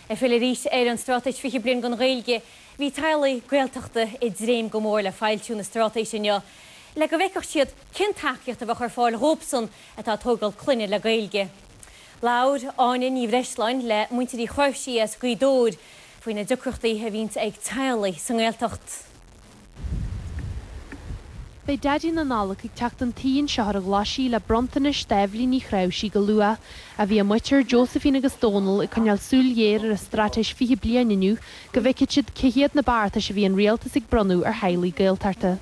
Ag filleadh arís ar an Straitéis 20 Bliain don Ghaeilge, bhí teaghlaigh Gaeltachta ag dréim go mór le foilsiú na Straitéise inniu le go bhfeicfeadh siad cén tacaíocht a bheadh ar fáil dhóibhsan atá ag tógáil clainne le Gaeilge. Labhair Áine Ní Bhreisleáin le muintir Uí Chnáimhsí as Gaoth Dobhair faoi na deacrachtaí a bhíonns ag teaghlaigh sa nGaeltacht. Beidh Daidí na Nollag ag teacht chun tí anseo ar an Ghlaisigh le bronntanais d'Eibhlín Ní Chnáimhsí go luath. Ach bhí a muintir, Josephine agus Dónal, ag coinneáil súil ghéar ar an Straitéis 20 bliain inniu go bhfeicfidh siad cé hiad na beartais a bhí an Rialtas ag bronnadh ar theaghlaigh Gaeltachta.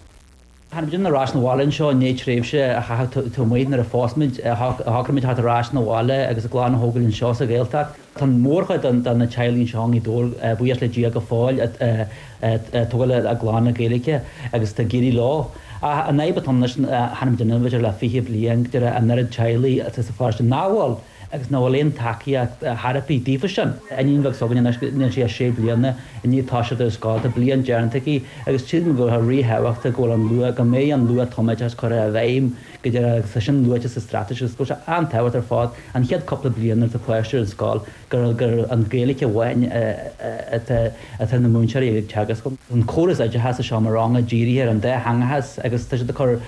Tháinig muid ar ais 'na bhaile anseo i ndiaidh tréimhse a chaitheamh taobh amuigh nuair a phós muid, shocraigh muid teacht ar ais 'na bhaile agus ár gclann a thógáil anseo sa Ghaeltacht. Tá an mhórchuid de na teaghlaigh anseo i nGaoth Dobhair, buíochas le Dia, go fóill ag tógáil a gclann le Gaeilge agus tá ag éirí leo. Ach an fhadhb atá ann anois, thar an bhliain bhíodar le fiche bliain, go díreach an oiread teaghlaigh sa pharóiste nach bhfuil agus nach bhfuil aon tacaíocht ar bith daofa sin. Iníon bheag s'againne anois, níl sí ach sé bliana, i ndiaidh toiseacht ar scoil. Tá bliain déanta aici agus tchím go bhfuil sé ríthábhachtach go bhfuil an luath, go mbeidh an luath-tumoideachas curtha i bhfeidhm go deimhin agus tá sin luaite sa Straitéis agus go bhfuil sé an-tábhachtach ar fad an chéad chúpla bliain nuair atá páiste ar an scoil gur an Ghaeilge amháin atá na múinteoirí ag teagasc, go bhfuil an córas oideachais sa seomra ranga dírithe ar an dátheangachas agus tá siad ag cur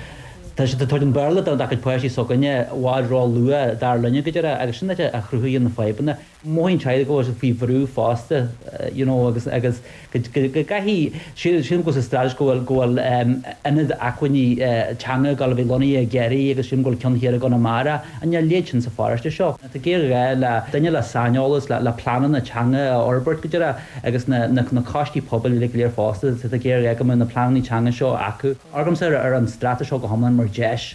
tá siad ag tabhairt an Béarla dár gcuid páistí s'againne i bhfad ró-luath dar linne, go deimhin, agus sin a chruthaíonn na fadhbanna. mothaíonn teaghlaigh go bhfuil siad faoi bhrú fosta you know agus agus go gcaithfidh sílim go bhfuil sa Straitéis go bhfuil go bhfuil ionad acmhainní teanga ag gabháil a bheith lonnaithe i gCiarraí agus sílim go bhfuil ceann thiar i gConamara a leithéid sin sa pharóiste seo tá géarghá le duine le saineolas le le pleananna teanga a fhorbairt go díreach agus na na coistí pobail uilig go léir fosta tá géarghá go mbeadh na pleananna teanga seo acu. Amharcaimse ar an Straitéis seo go hiomlán mar deis.